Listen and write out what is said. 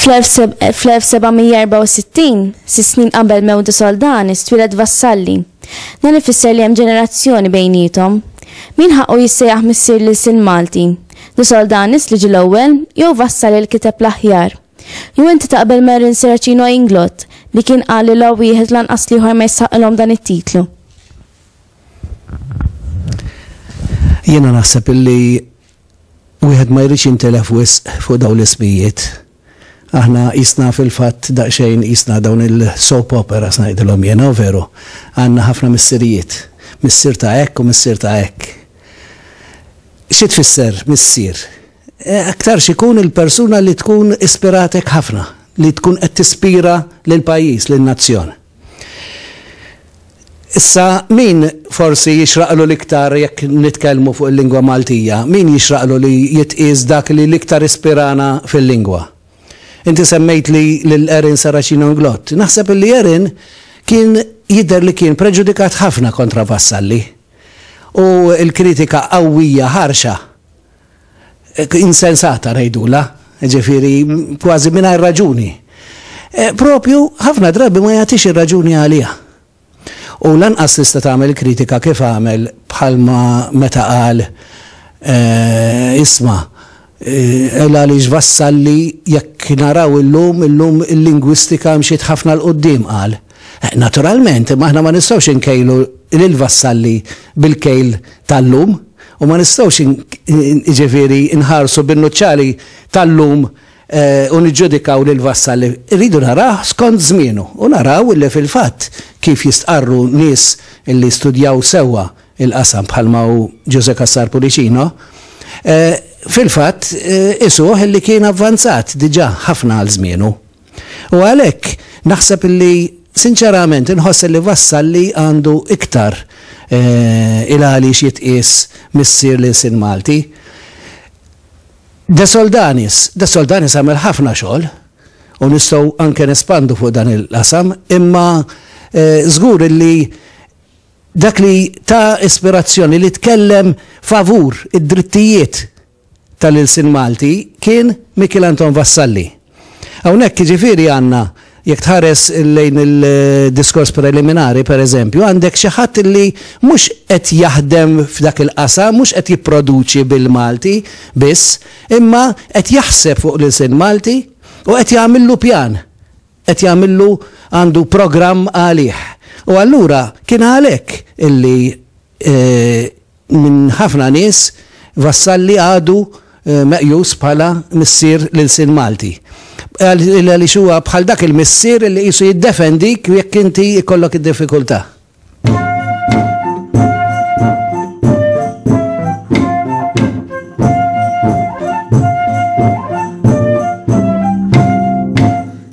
Fl-1764, sis snin qabel mewdu soldani, stwilet vassalli. Dan ifisser li hemm ġenerazzjoni bejnietom. Min ħaqqu jissejjaħ missier lil sin Malti? Li soldanis li ġil ewwel jew vassal il kiteb l-aħjar? Jew inti taqbel ma' Erin Serracino Inglott li kien qal li la wieħed lanqas l-ieħor ma jistħaqqilhom dan it-titlu? Jiena naħseb illi wieħed ma jridx jintilef wisq fuq dawn l-ismijiet. Aħna jisna fil-fatt daqsxejn jisna dawn il-soap opera ngħidilhom jiena, veru. Għandna ħafna missirijiet. Missier ta' hekk u missier ta' hekk. Xi tfisser missier? Aktarx ikun il-persuna li tkun ispiratek ħafna, li tkun qed tispira lill-pajjiż, lin-nazzjon. Issa min forsi jixraqlu l-iktar jekk nitkellmu fuq il-lingwa Maltija, min jixraqlu li jitqies dak li l-iktar ispirana fil-lingwa? Inti semmejtli lil Erin Saracino Inglott. Naħseb illi Erin kien jidher li kien preġudikat ħafna kontra Vassalli u l-kritika qawwija ħarxa insensata ngħidulha, ġifieri kważi mingħajr raġuni. E, propju ħafna drabi ma jagħtix ir-raġuni għaliha. U lanqas tista' tagħmel kritika kif għamel bħalma meta qal e, isma' Ela e, li ġvassalli jekk naraw illum, illum il-lingwistika mxiet ħafna l-qoddim qal. Naturalment, imma aħna ma nistgħux inkejlu lil vassalli bil-kejl tal-lum u ma nistgħux ġifieri nħarsu bin-nuċċali tal-lum eh, u niġġudikaw lil vassalli. Irridu naraw skont żmienu u naraw li fil-fatt kif jistqarru nies li studjaw sewwa il-qasam bħalma u Ġuże Kassar Pulicino, eh, fil-fatt eh, isuh li kien avvanzat diġà ħafna għal żmienu. U għalhekk naħseb illi sinċerament inħoss illi Vassalli għandu iktar il-għali x'jitqies missier l-ilsien Malti. De Soldanis, De Soldanis għamel ħafna xogħol u nistgħu anke nespandu fuq dan il-qasam, imma żgur illi dak li ta ispirazzjoni li tkellem favur id-drittijiet tal-ilsien Malti kien Mikiel Anton Vassalli. Hawnhekk jiġifieri għandna, jekk tħares lejn il-diskors preliminari pereżempju, għandek xi ħadd li mhux qed jaħdem f'dak il-qasam, mhux qed jipproduċi bil-Malti biss, imma qed jaħseb fuq l-ilsien Malti u qed jagħmillu pjan, qed jagħmillu għandu programm għalih. U allura kien għalhekk illi Minn ħafna nies, Vassalli għadu meqjus bħala missier l-ilsien Malti. Għaliex huwa bħal dak il-missier li qisu jiddefendik jekk inti jkollok id-diffikultà.